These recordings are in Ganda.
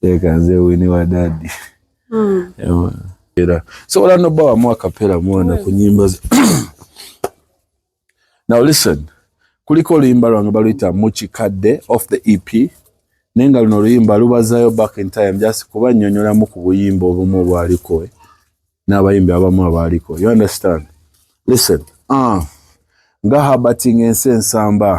Cheka nze wini wa daddy. Mm. Yeah. Era. So wala no bawa mwa kapera mwana mm. kunyimba. Now listen. Kuliko oluyimba lwange baluyita mukikadde off the EP naye nga luno oluyimba lubazayo back in time just kuba nnyonyolamu ku buyimba obumu obwaliko eh. n'abayimbi abamu abaaliko you understand listen ah nga habating ensi ensamba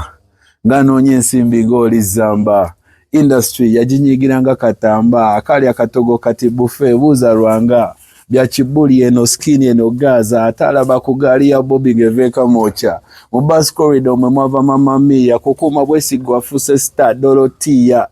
nga noonya ensimbi ng'oli zamba industry yaginyigira nga katamba akali akatogo kati bufe buuza lwanga bya kibuli eno skin eno gaza atalaba ku gaali ya bobi ng'eveeka mwokya mu bas corridor mwe mwava mamamiya kukuuma bwesigwa fuse star dolotiya yeah.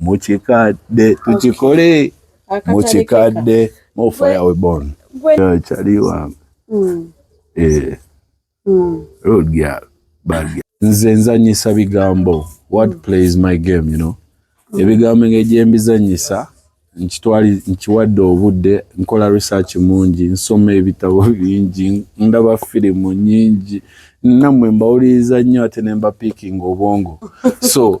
mukikadde tukikole mukikadde more fire we born chali wange mm. eh mm. road girl bad girl nze nzanyisa bigambo what mm. plays my game you know mm. ebigambo ng'e gye mbizanyisa nkitwali nkiwadde obudde nkola research mungi nsoma ebitabo bingi ndaba firimu nyingi nammwe mbawuliriza nnyo ate ne mbapiikinga obwongo so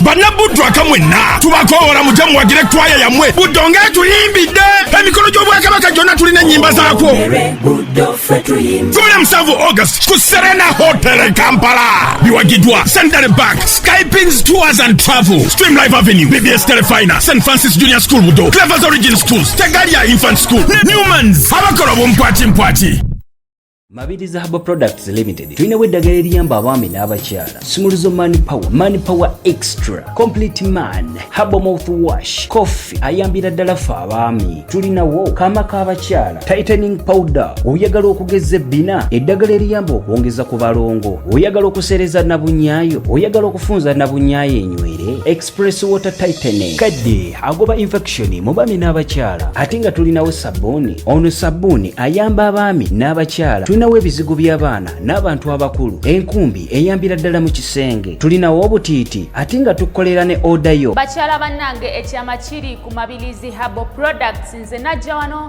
bannabuddu akamwenna tubakoowola mujja muwagire ekwaya yammwe buddo nga etuyimbidde emikolo gy'obwakabaka gyonna tulina ennyimba zaakwo gumira musanvu august ku serena hotel e kampala biwagiddwa sendale bank skypings tours and travel stream live avenue bbs telefina st francis junior school buddo clevers origin schools tegalia infant school ne newmans abakola obwomukwatimpwati Mabiriza Herbal Products Limited tulinawo eddagala eriyamba abaami n'abakyala sumuluzo man power man power extra complete man herbal mouth wash coffee ayambira ddala fe abaami tulinawo kaama k'abakyala tightening powder oyagala okugeza ebbina eddagala eriyamba okwongeza ku balongo oyagala okuseereza nabunyaayo oyagala okufunza nabunyaayo enywere Press water tightening kadde agoba infection mu baami n'abakyala ate nga tulinawo sabbuuni ono sabbuuni ayamba abaami n'abakyala tulinawo ebizigo by'abaana n'abantu abakulu enkumbi eyambira ddala mu kisenge tulinawo obutiiti ate nga tukukolera ne oda yo bakyala bannange ekyama kiri ku mabilizi habo products nze najja wano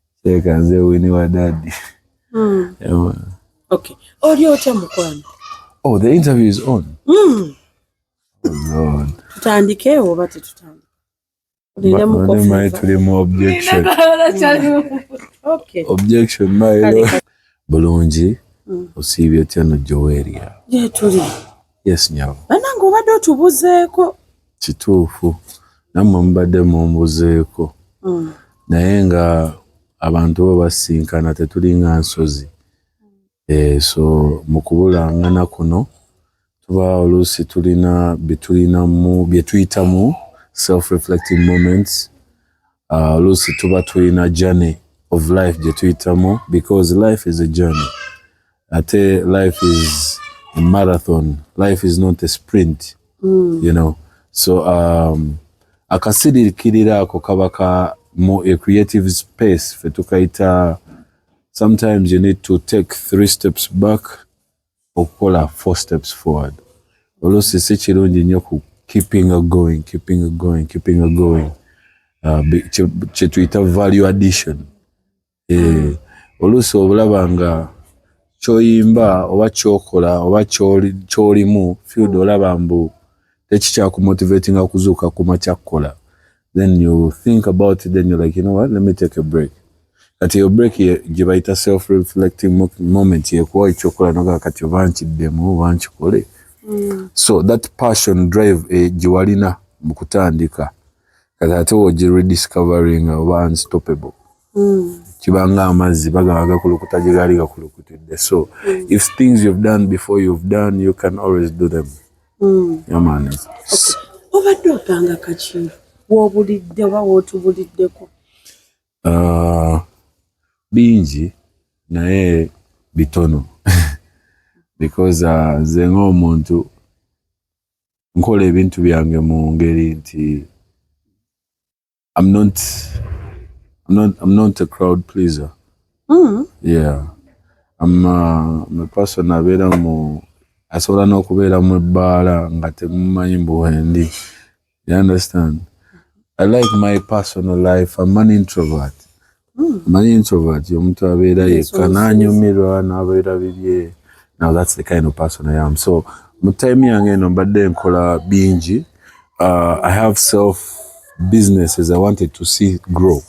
Sheeka nze wini wa daddy. Mm. Yeah. Okay. Oli otya mukwano? Oh, the interview is on. Mm. Oh, Lord. Tutandike oba tetutandike? bulungi mm. osiibye otya no joweria yes nyabo banange obadde otubuzeeko Kituufu nammwe mubadde mumbuzeeko mm. naye nga abantu bo basisinkana tetulinga nsozi e, so mu kubulangana kuno tuba oluusi tulina byetulinamu byetuyitamu self reflecting moments Ah, oluusi tuba tulina journey of life gye tuyitamu because life is a journey ate life is a marathon life is not a sprint mm. you know so um, akasirikirira ako kaba ka mu a creative space fe tukayita sometimes you need to take three steps back okukola four steps forward oluusi si kirungi nnyo ku keeping going keeping going keeping going uh, kyetuyita value addition eh, oluusi obulaba nga kyoyimba oba kyokola oba kyolimu field olaba mbu tekikyakumotivatinga kuzuuka kuma kyakukola then you think about it then you're like you know what let me take a break kati eyo break gye bayita self reflecting moment yekuwa ekyokola noga kati oba nkiddemu oba nkikole mm. so that passion drive eh, gye walina mu kutandika kati ate wogi rediscovering oba unstoppable mm. kibanga amazzi bagamba gakulukuta gye gaali gakulukutidde so mm. if things you've done before you've done you can always do them Hmm. obadde opanga kaki wobulidde oba wotubuliddeko ah, bingi naye bitono because ah, nze uh, ngaomuntu nkola ebintu byange mu ngeri nti I'm not I'm not I'm not a crowd pleaser. Mm. Yeah. I'm uh, I'm a person abeera mu asobola n'okubeera mu ebbaala nga temumanyi mbu wendi. You understand? I like my personal life. I'm an introvert. Hmm. Manyi introvert omuntu abeera yekka nanyumirwa nabeera bibye now that's the kind of person I am so mu time yange eno mbadde nkola bingi uh, I have self businesses I wanted to see grow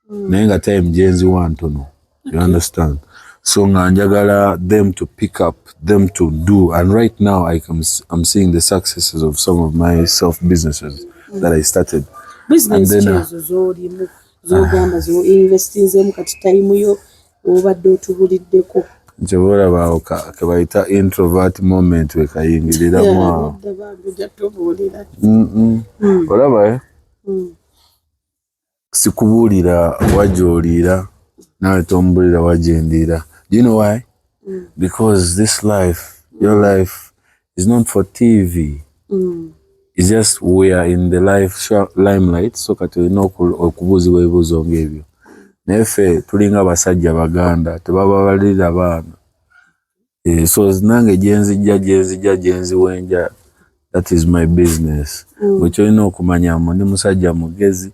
mm. naye nga time jenzi wa ntono you understand so nga njagala them to pick up them to do and right now I am, I'm seeing the successes of some of my self businesses mm. that I started business and then, uh, zogamba zo investinzemu kati time yo obadde otubuliddeko nti olaba awo kebayita introvert moment wekayingiriramu awo hmm. olaba eh? hmm. sikubuulira wajooliira nawe tomubuulira wajendiira do you know why mm. because this life your life is not for TV mm. is just we are in the life limelight so kati olina okubuuzibwa ebibuuzo ng'ebyo naye ffe tulinga abasajja baganda tebababalirira baana eh, so nange gyenzijja gyenzijja gyenziwenja that is my business mm. wekyolina okumanyamu ndi musajja mugezi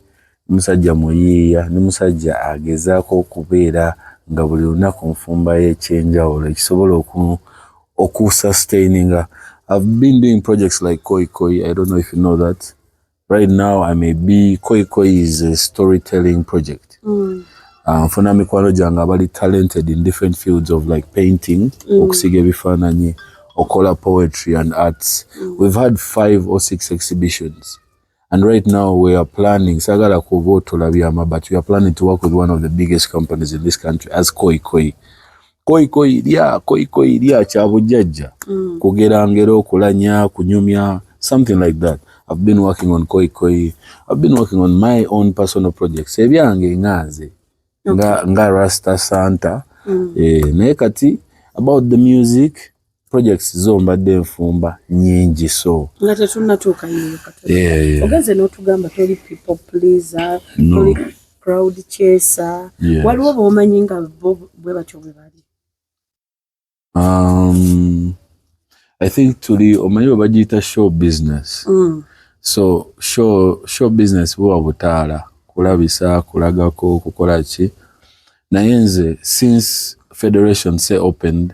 Musajja muyiiya ne musajja agezaako okubeera nga buli lunaku nfumbayo ekyenjawulo ekisobola oku oku sustaininga I've been doing projects like koi koi I don't know if you know that right now I may be koi koi is a storytelling project mm. uh, nfuna mikwano gyange abali talented in different fields of like painting mm. okusiga ebifaananyi okola poetry and arts mm. we've had five or six exhibitions And right now we are planning, sagala kuvotula byama, but we are planning to work with one of the biggest companies in this country as Koi Koi. Koi Koi ilia, Koi Koi ilia, chabu jaja, mm. kugera ngero, kulanya, kunyumia, something like that. I've been working on Koi Koi. I've been working on my own personal projects. Ebya ange ngaze, nga, nga Rasta Santa. Mm. Eh, nae kati, about the music, projects zo mbadde nfumba nyingi so nga tetunnatuuka yeeyo katono ogenze n'otugamba toli people pleaser toli crowd chaser waliwo boomanyi nga bo bwe batyo bwe bali um, i think tuli omanyi bwebagiyita show business mm. so show, show business buba butaala kulabisa kulagako kukola ki naye nze since federation say opened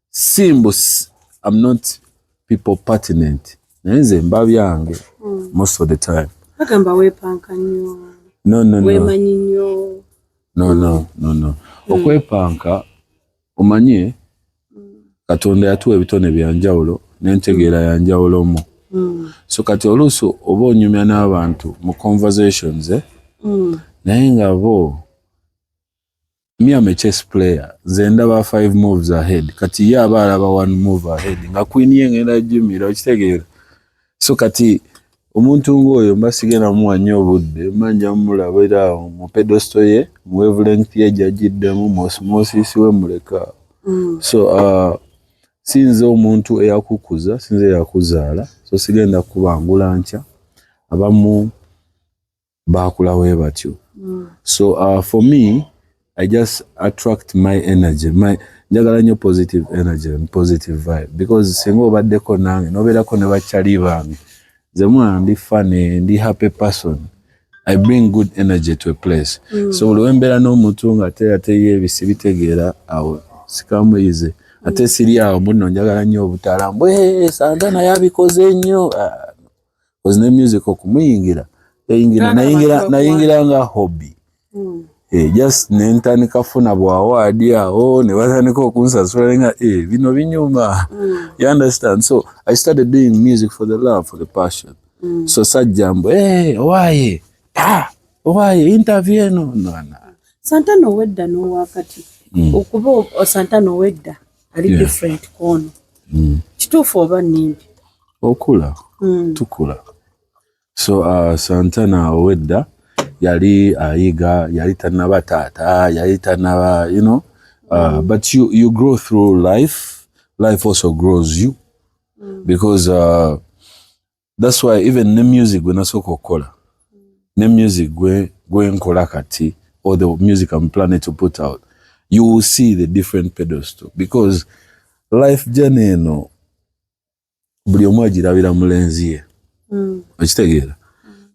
simbu am not people pertinent naye nze mba byange mm. most of the time bagamba wepanka nyo no no no wemanyi nyo no no no no mm. okwepanka omanye mm. katonda yatuwa ebitone byanjawulo nentegeera mm. yanjawulomu mm. so kati oluusi oba onyumya n'abantu mu conversations eh? mm. naye nga bo me am a chess player nze ndaba five moves ahead kati ye aba alaba one move ahead nga queen ye ngenda jimira okitegeera so kati omuntu ng'oyo mba sigenda muwa nnyo obudde mba nja mumulaba era awo mu pedosto ye mu wavelength ye gyagiddemu mu osmosis we muleka mm. so uh, sinze omuntu eyakukuza sinze eyakuzaala so sigenda kubangula nkya abamu baakula we batyo mm. so uh, for me i just attract my energy my njagala nnyo positive energy and positive vibe because singa obaddeko nange nobeerako ne bakyali bange nze mwana ndi fane ndi happy person i bring good energy to a place mm. so buli wembeera n'omuntu nga ate ateyo ebisi bitegeera awo sikamuyize ate siri awo muno njagala nnyo obutaala mbwe santana yabikoze nnyo ah. kozi ne music okumuyingira eyingira nayingira nayingira nga hobby mm. eh, just nentandika funa bwawo adi awo ne batandika okunsasula nga eh, bino binyuma mm. you understand so i started doing music for the love for the passion mm. so sajjambo hey, eh, owaye ah, owaye interview eno no, no. santana owedda nowakati mm. okuba osantana owedda ali yeah. different kono mm. kituufu oba nimbi okula mm. tukula so uh, santana owedda yali ayiga yali tanaba taata yali tanaba you know uh, mm. but you, you grow through life life also grows you mm. because uh, that's why even ne music gwe nasooka okukola ne music gwe gwe nkola kati or the music I'm planning to put out you will see the different pedals too because life journey eno buli omu agirabira mulenzi ye mm. okitegeera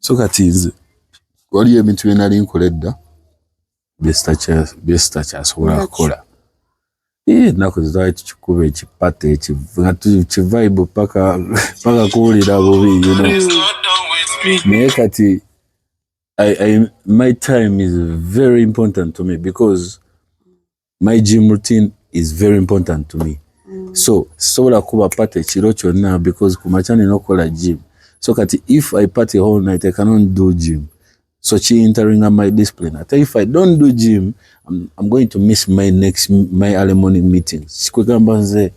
so kati nze waliyo ebintu byenali nkola edda byesitakyasobola kukola ennaku zitwali tukikuba ekipata ekiva kivaibu paka kuwulira bubi naye kati I, I, my time is very important to me because my gym routine is very important to me mm. so sisobola kuba pata ekiro kyonna because kumakya nina okukola gym so kati if i party whole night i cannot do gym So she entering my discipline. I tell you, if I don't do gym, I'm, I'm going to miss my next, my early morning meetings. Sikwegamba nze,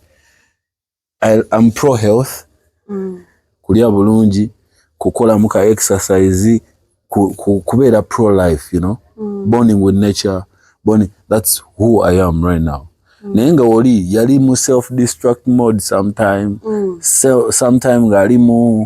I, I'm pro health. Mm. Kulia bulungi, kukola muka exercise, ku, ku, kubera pro life, you know, mm. bonding with nature, bonding. That's who I am right now. Mm. Naye nga oli, yali mu self-destruct mode sometime, mm. self, sometime nga ali mu,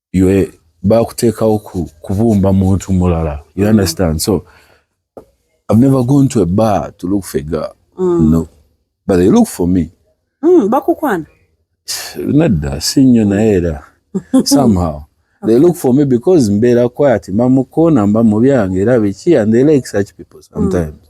yue bakuteekawo kubumba muntu mulala you mm-hmm. understand so i've never gone to a bar to look for a girl mm. no but they look for me mm, bakukwana nedda si nnyo naye era somehow they look for me because mbeera quiet mba mu kona mba mu byange era biki and they like such people sometimes mm.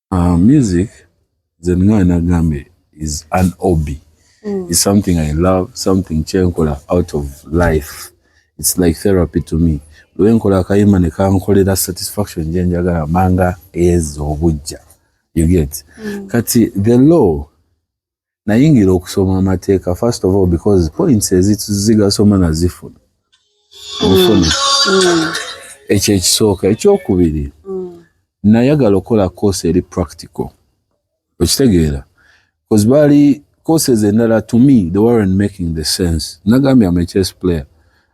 uh, music nze nga nagambye is an obi mm. is something i love something kyenkola out of life it's like therapy to me lwenkola akayimba nekankolera satisfaction gyenjagala manga ezo obujja you get mm. kati the law nayingira okusoma amateeka first of all because points ezizigasoma nazifuna mufuna mm. mm. ekyo ekisooka ekyokubiri mm. nayagala okukola course eri practical okitegeera bcause baali courses endala to me the warren making the sense nagambye am a chess player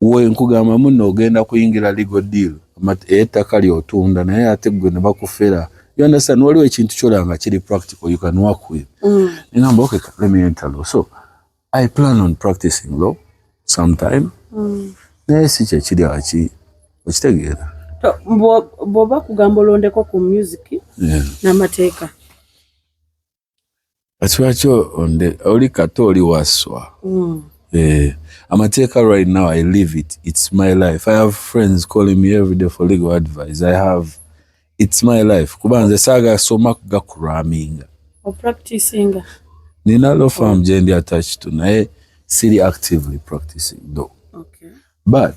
we nkugamba muno ogenda kuyingira legal deal eyettaka lyotunda naye ate gwe ne bakufera you understand waliwo ekintu kyola nga kiri practical you can work with mm. ngamba okay let me enter law so i plan on practicing law sometime mm. naye si kyekiri aki okitegeera bwoba kugamba olondeko ku music yeah. namateeka lwaki oli kato oli waswa mm. eh, amateeka right now i live it it's my life i have friends calling me every day for legal advice i have it's my life kuba nze saagasoma kugakurwaminga nina lo farm gyendi attach to naye siri actively practicing though okay. but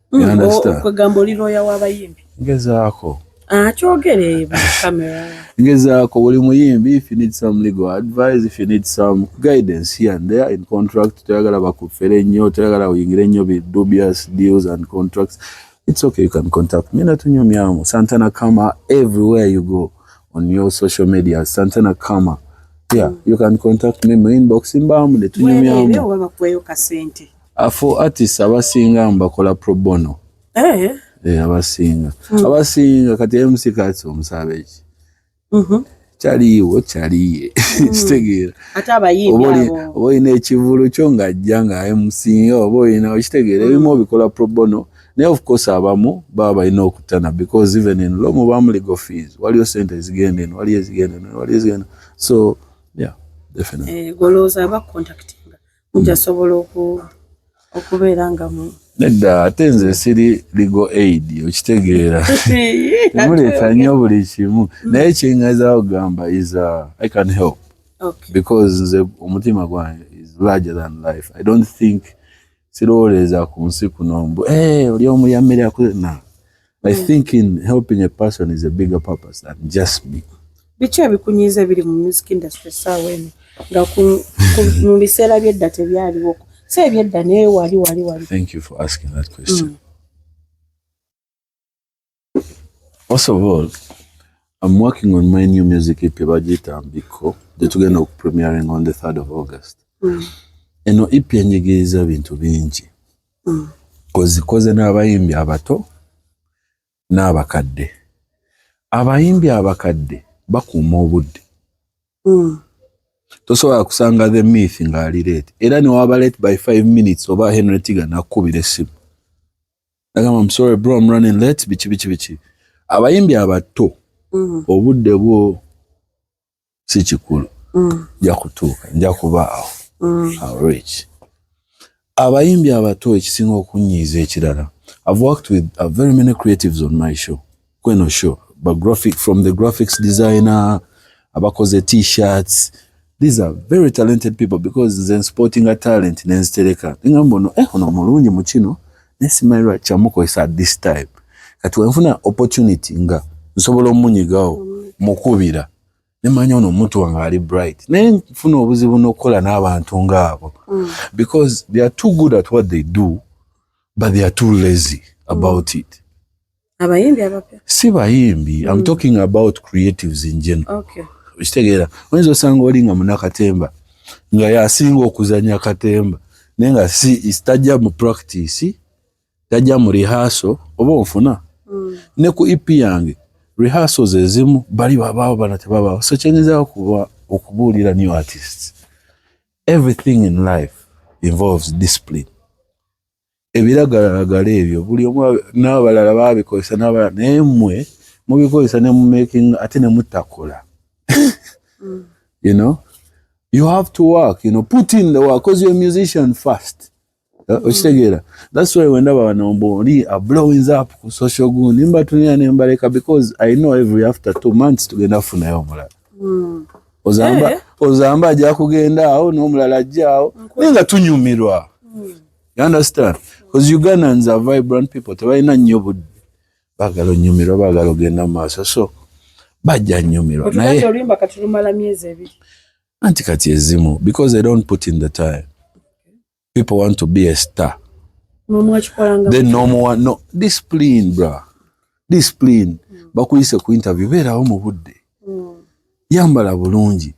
Mm, kwegamba oli looya w'abayimbi ngezaako ah, kyogere camera ngezaako buli muyimbi if you need some legal advice if you need some guidance here and there in contract toyagala bakufere nnyo toyagala oyingire nnyo bi dubious deals and contracts it's okay you can contact me natunyumyamu santana kama everywhere you go on your social media santana kama yeah mm. you can contact me mu inbox mbamu netunyumyamu afu artist abasinga mbakola pro bono eh eh abasinga mm. abasinga kati MC Kats omusabe ki mhm mm chali wo chali mm. kitegera ate abayimbi abo obo ine ekivulu kyo nga janga MC obo ine okitegera mm. ebimo bikola pro bono ne of course abamu baba ine okutana because even in lomu bamu legal fees waliyo sente ezigenda eno waliyo ezigenda eno waliyo ezigenda so yeah definitely eh goloza ba contact njasobola oku okubeera nga mu nedda ate nze siri ligo aid okitegeera muleeta nnyo buli kimu naye kyengaza ogamba is uh, i can help okay. because nze omutima gwange is larger than life i don't think sirowoleeza ku nsi kuno mbu hey, eh, oli omulya mmere akuze na I mm. think in helping a person is a bigger purpose than just me. Biki ebikunyiiza ebiri mu music industry saawa eno nga mu biseera by'edda tebyaliwo si eby'edda naye wali wali wali. Thank you for asking that question. Mm. First of all, I'm working on my new music EP bagiyita Mbikko gye tugenda okupremiering on the 3rd of August. Mm. Eno EP enjigiriza bintu bingi. mm. kozikoze n'abayimbi abato n'abakadde abayimbi abakadde bakuuma obudde mm. tosobola kusanga the myth ng'ali late era newaba late by five minutes oba henry tiga nakukubira essimu agamba msorry bro am running late biki biki biki abayimbi abato mm. obudde bwo si kikulu mm. nja kutuuka nja kuba awo mm. rich abayimbi abato ekisinga okunyiiza ekirala i've worked with uh, very many creatives on my show kweno show but graphic from the graphics designer abakoze t-shirts these are very talented people because nze sporting a talent nenzitereka ngamba ono eh ono mulungi mu kino naye simanyi lwaki kyamukozesa at this time kati wenfuna opportunity nga nsobola omunyigawo mukubira nemanya ono omuntu wange ali bright naye nfuna obuzibu nokukola n'abantu ngaabo mm. because they are too good at what they do but they are too lazy about it abayimbi abapya si bayimbi mm. I'm talking about creatives in general okay. okitegeera oyinza osanga oli nga munakatemba nga yasinga okuzanya katemba naye nga si tajja mu practice tajja mu rehearsal oba onfuna mm. ne ku ep yange rehearsals ezimu bali babaawo bana tebabaawo so kyengezaako kuba okubuulira new artists everything in life involves discipline ebiragalalagala ebyo buli omu n'abalala babikozesa n'abalala naye mmwe mubikozesa ne mu making ate ne mutakola mm. you know you have to work you know put in the work cause you're a musician first eh, mm. okitegeera that's why wendaba banombo oli a blowings up ku social gun mbatunira nembaleka because i know every after two months tugenda kufunayo omulala mm. ozamba eh. ozamba aja kugenda awo nomulala ajja awo naye nga tunyumirwa mm. you understand because ugandans are vibrant people tebalina nnyo budde bagala onyumirwa bagala ogenda mu maaso so bajja nyumirwa naye anti kati ezimu because they don't put in the time people want to be a star then no more no discipline bra discipline mm. bakuyise ku interview beerawo mu budde mm. yambala bulungi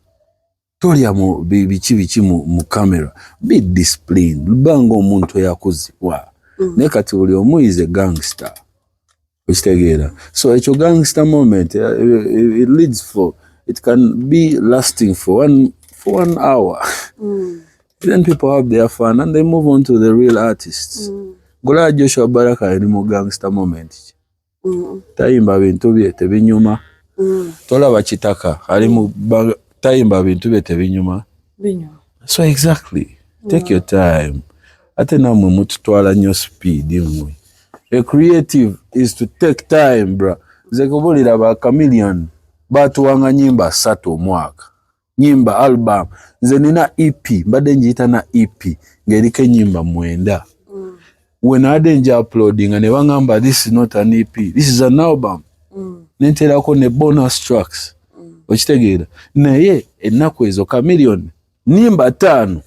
tolya mu biki biki mu, mu camera be discipline banga omuntu eyakuzibwa mm. naye kati buli omu is a gangster okitegeera so ekyo gangster moment eh, eh, it leads for it can be lasting for one, for one hour mm. then people have their fun and they move on to the real artists mm. gulaba joshua baraka yali mu gangster moment ki mm. tayimba bintu bye tebinyuma mm. tolaba kitaka ali mu tayimba bintu bye tebinyuma so exactly take mm. your time ate namwe mututwala nyo speed mwe a creative is to take time bra nze kubulira ba chameleon batuwanga nyimba satu omwaka nyimba album nze nina ep mbadde njiyita na ep ngaeriko enyimba mwenda mm. wenade nja uploading nga nebangamba this is not an ep this is an album mm. nenterako ne bonus tracks mm. okitegeera naye ennaku ezo chameleon nimba taano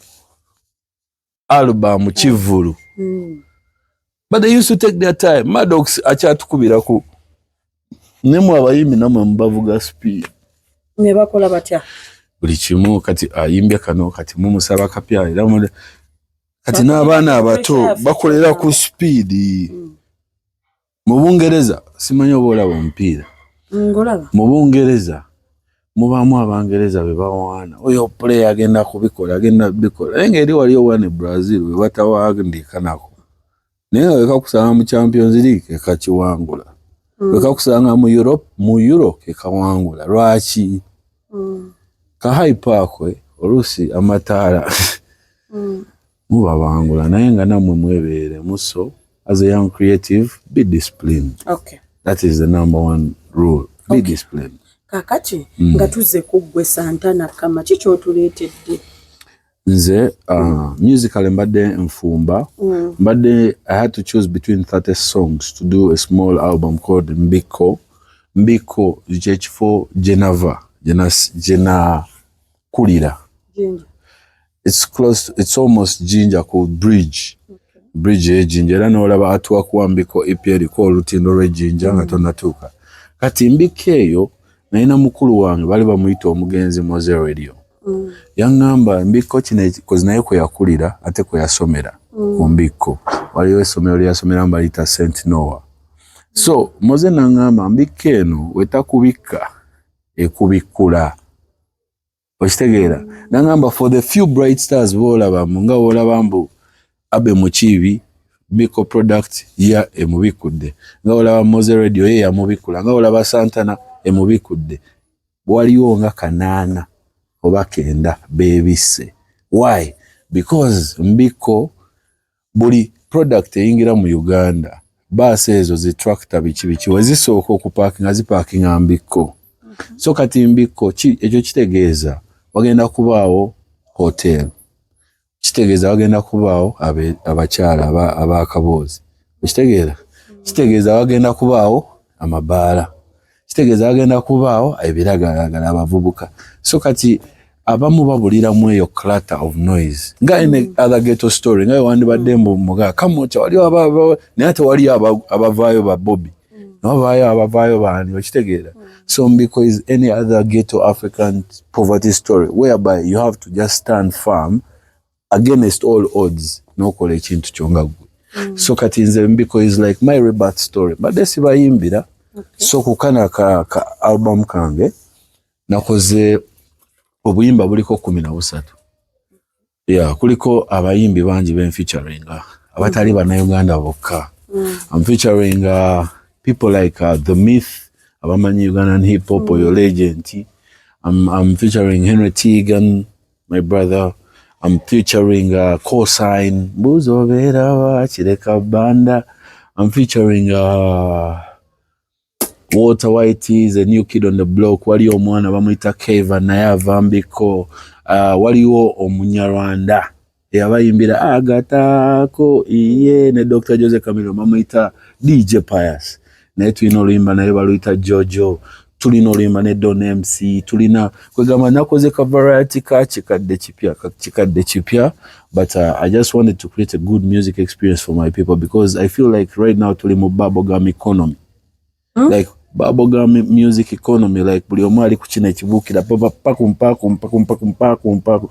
album kivulu mm. but they used to take their time madox akyatukubirako nemwe abayimbi namwe mubavuga speed nebakola batya buli kimu kati ayimbye kano kati mumusaba kapya era kati n'abaana abato bakolera ku speed mm. mu bungereza simanyi oba olaba omupiira mu bungereza mubaamu abangereza be bawaana oyo puleya agenda kubikola agenda bikola naye ngaeri wali owa ne brazil be batawandikanako naye nga wekakusanga mu champions league ekakiwangula mm. wekakusanga mu europe mu euro kekawangula lwaki mm. kahaipaakwe oluusi amataala mm. mubabangula naye nga namwe mwebeere muso as a young creative be disciplined okay. that is the number one rule be okay. disciplined kakati mm. nga tuze kuggwe santana kama ki kyotuleetedde nze uh, musically mbadde nfumba mm. mbadde i had to choose between 30 songs to do a small album called mbiko mbiko kyekifo gyenava gyena kulira jinja it's close to, it's almost jinja ku bridge okay. bridge ye jinja era nolaba atuwa kuwambiko epi eriko olutindo lwejinja nga mm. tonatuuka kati mbikka eyo nalina mukulu wange bali bamuyita omugenzi moze radio mm. yaŋŋamba mbikko kino kozi naye kwe yakulira ate kwe yasomera mm. ku mbikko waliwo essomero lye yasomeramu baliyita st noa so moze naŋŋamba mbikka eno wetakubikka ekubikkula okitegeera nangamba for the few bright stars boolaba mbu nga woolaba mbu abe mukiibi miko product ya emubikkudde nga woolaba mose radio ye yamubikkula nga woolaba santana emubikkudde waliwo nga kanaana oba kenda beebisse why because mbikko buli product eyingira mu uganda baasi ezo zi tractor biki biki wezisooka okupakinga zipakinga mbikko mhm. so kati mbikko ekyo kitegeeza wagenda kubaawo hotel kitegeeza wagenda kubaawo abakyala abakaboozi okitegeera mhm. kitegeeza wagenda kubaawo amabaala kitegeeza wagenda kubaawo ebiragaagala abavubuka so kati abamu babulira mu eyo clatter of noise nga in mm. other ghetto story nga wandibadde mbu muga kamukya waliwo abavaayo naye ate waliyo abavaayo ba bobi mm. nabavaayo abavaayo baani okitegeera mm. so mbiko is any other ghetto african poverty story whereby you have to just stand firm against all odds nokola ekintu kyo nga gwe mm. so kati nze mbiko is like my rebirth story mbadde sibayimbira okay. so kukana ka, ka album kange nakoze obuyimba buliko kumi na busatu yeah, kuliko abayimbi bangi benfeaturinga abatali mm. banauganda bokka mm. am featuring uh, people like uh, the myth abamanyi ugandan hip hop mm. oyo legend I'm, I'm featuring henry tegan My brother I'm featuring uh, cosign mbuzi obeera wa kireka banda I'm featuring uh, Walter White is a new kid on the block waliyo omwana bamuyita Keva naye avambiko uh, waliwo omunyarwanda eyabayimbira agataako iye ne Dr. Jose Camilo bamuyita DJ Pius naye tulina oluyimba naye baluyita jojo tulina oluyimba ne don mc tulina kwegamba nakoze ka variety ka kikadde kipya kikadde kipya but uh, i just wanted to create a good music experience for my people because i feel like right now tuli mu babogam economy hmm? like babogam music economy like buli omu ali ku kino ekibuukira pakumpakumpakumpakumpaku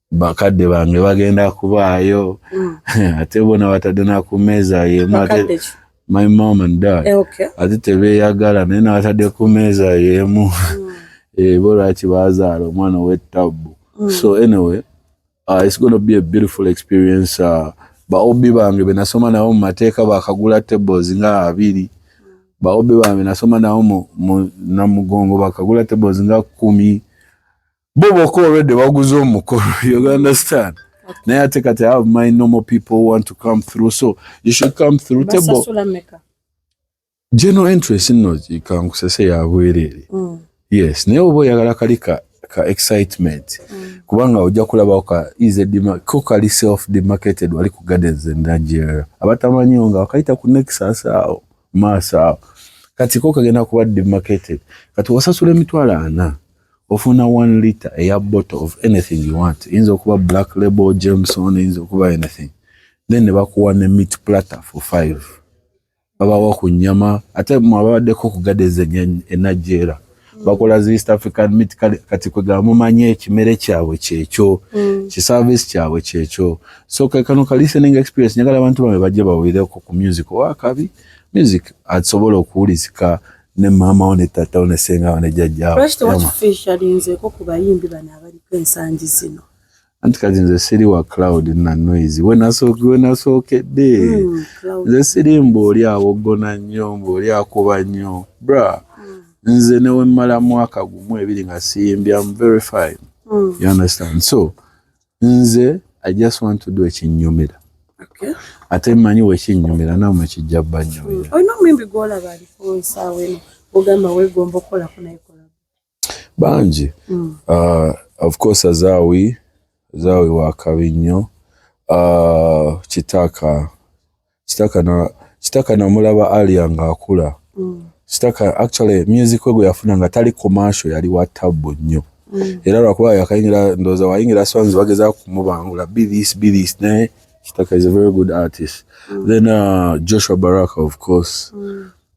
bakadde bange bagenda kubaayo mm. ate bona batadde nakumeeza yemu ate my mom and dad eh, okay. ate tebeyagala naye nabatadde ku meeza yemu mm. eh, bo lwaki bazaala omwana owettabbu mm. so anyway uh, it's gonna be a beautiful experience uh, baobi bange benasoma nabo mu mateeka bakagula tables nga abiri baobi bange nasoma nabo mu namugongo bakagula tables nga kumi bo boka already baguze omukolo you mm. understand okay. naye ate kati i have my normal people who want to come through so you should come through table general interest nno kankusese yabwerere mm. yes naye oba oyagala kali ka, ka excitement mm. kubanga ojja kulabawo ka ko kali self demarketed wali ku gardens and nigeria abatamanyiwo nga wakayita ku nexus awo maaso awo kati ko kagenda kuba demarketed kati wasasula emitwalo ana ofuna one liter eya bottle of anything you want eyinza okuba black label jameson eyinza okuba anything then ne bakuwa ne meat platter for five babawa ku nyama ate mwe ababaddeko ku gadezi enajjeera bakola zi east african meat kati kwegaba mumanyi ekimere kyabwe kyekyo mm. kiservice kyabwe kyekyo so kano ka listening experience njagala abantu bamwe bajje bawulireko ku music owakabi music asobola okuwulizika ne maama wo ne taata wo ne senga wo ne jajja wo lwaki tewakifiishalinzeeko ku bayimbi bano abaliko ensangi zino anti kati nze siri wa cloud na noise wenasookedde hmm, nze siri mbu oli awogona nnyo mbu oli akuba nnyo bra hmm. nze newemmala mwaka gumu ebiri nga siyimbya very fine hmm. you understand so nze i just want to do ekinyumira okay. ate manyi wekinyumira nawe mukijja banyumira mm. olina omuyimbi gwolaba aliko nsaawa eno ogamba wegomba okukolako naye kola bangi mm. uh, of course azawi azawi wakabi nnyo uh, kitaaka sitaka na sitaka na mulaba alia nga akula mm. sitaka actually music we yafuna nga tali commercial yali wa tabu nyo mm. era lwakuba yakayingira ndoza wayingira swans bageza kumubangula be this be this ne sitaka is a very good artist mm. then uh, Joshua Baraka of course mm.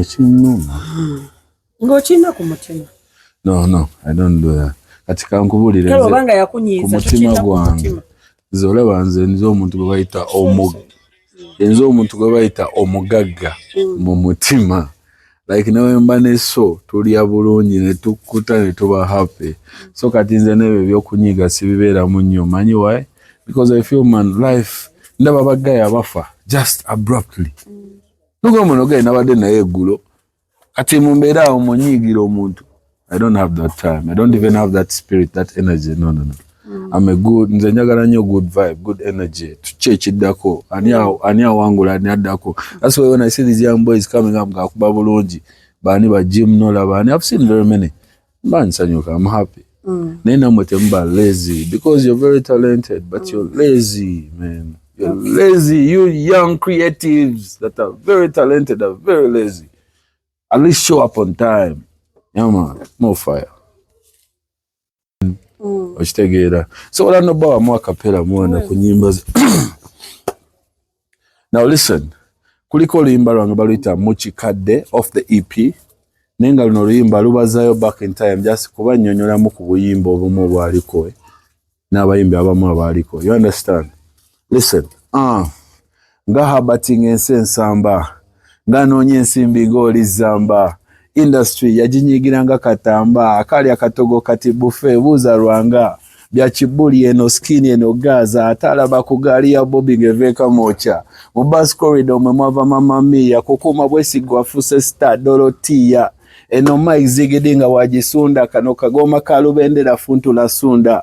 ekinnuma ng'okirina ku mutima no no i don't do that kati kankubulire kale obanga yakunyiiza mutima gwange nze olaba nze nze omuntu gwe bayita omug nze omuntu gwe bayita omugagga mm. mu mutima like nawe mba ne so tulya bulungi ne tukkuta ne tuba happy so kati nze n'ebyo ebyokunyiiga sibibeeramu nnyo manyi why because i feel man life ndaba baggayo abafa just abruptly mm. nugamba ono gayi nabadde naye eggulo kati mumbeera awo munyiigira omuntu i don't have that time i don't even have that spirit that energy no no no mm. I'm a good nze njagala nnyo good vibe good energy tuki ekiddako ani awangula ani addako that's why when i see these young boys coming up ngaakuba bulungi baani ba jim nolaba ani i've seen very many mba nsanyuka am happy mm. naye namwe temuba lazy because you're very talented but mm. you're lazy man you're okay. lazy you young creatives that are very talented are very lazy at least show up on time yeah man more fire mm. okitegeera sobola nobawamu akapera mwana ku nyimba now listen kuliko oluyimba lwange baluyita mukikadde off the ep naye nga luno oluyimba lubazayo back in time just kuba nyonyolamu ku buyimba obumu obwaliko eh, n'abayimbi abamu abaaliko you understand listen uh, nga habating ensi ensamba ng'anoonya ensimbi ng'oli zamba industry yaginyigira nga katamba akaali akatogo kati bufe buuza lwanga bya kibuli eno skin eno gaza ate alaba ku gaali ya bobi ng'eveeka mokya mu bas corridor mwe mwava mama miya kukuuma bwesigwa afuuse star dorotiya eno mike zigidi nga wagisunda kano kagooma ka lubendera funtula sunda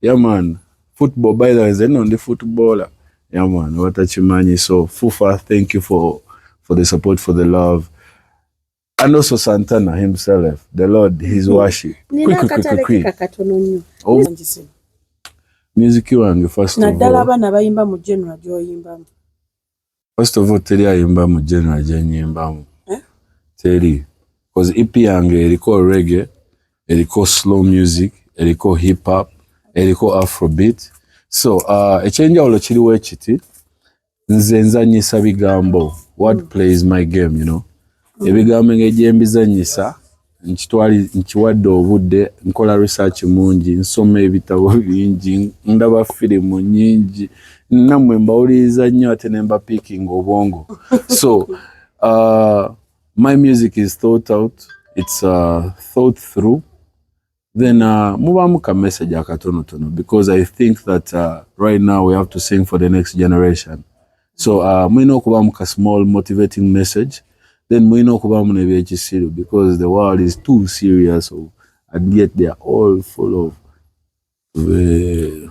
Yeah man, football by the way, nze no ndi footballer. Yeah man, watakimanyi. So FUFA, thank you for for the support, for the love. And also Santana himself, the Lord, his mm-hmm. worship. Quick, quick, quick, quick. Oh. Music wange first of all. Naddala abana bayimba mu general gyoyimbamu. first of all teri ayimba mu general gyenyimbamu eh? teri bcause ep yange eriko rege eriko slow music eriko hip hop eriko afrobeat so uh, ekyenjawulo kiriwo ekiti nze nzanyisa bigambo word plays my game you know mm. ebigambo engeri gyembizanyisa nkitwali nkiwadde obudde nkola research mungi nsoma ebitabo bingi ndaba firimu nyingi namwe mbawuliriza nnyo ate nemba picking obwongo so uh, my music is thought out it's uh, thought through then uh, mubamu ka message akatonotono because i think that uh, right now we have to sing for the next generation so uh, mulina okubamu ka small motivating message then mulina okubamu nebyekisiru because the world is too serious of, and yet they are all full of uh,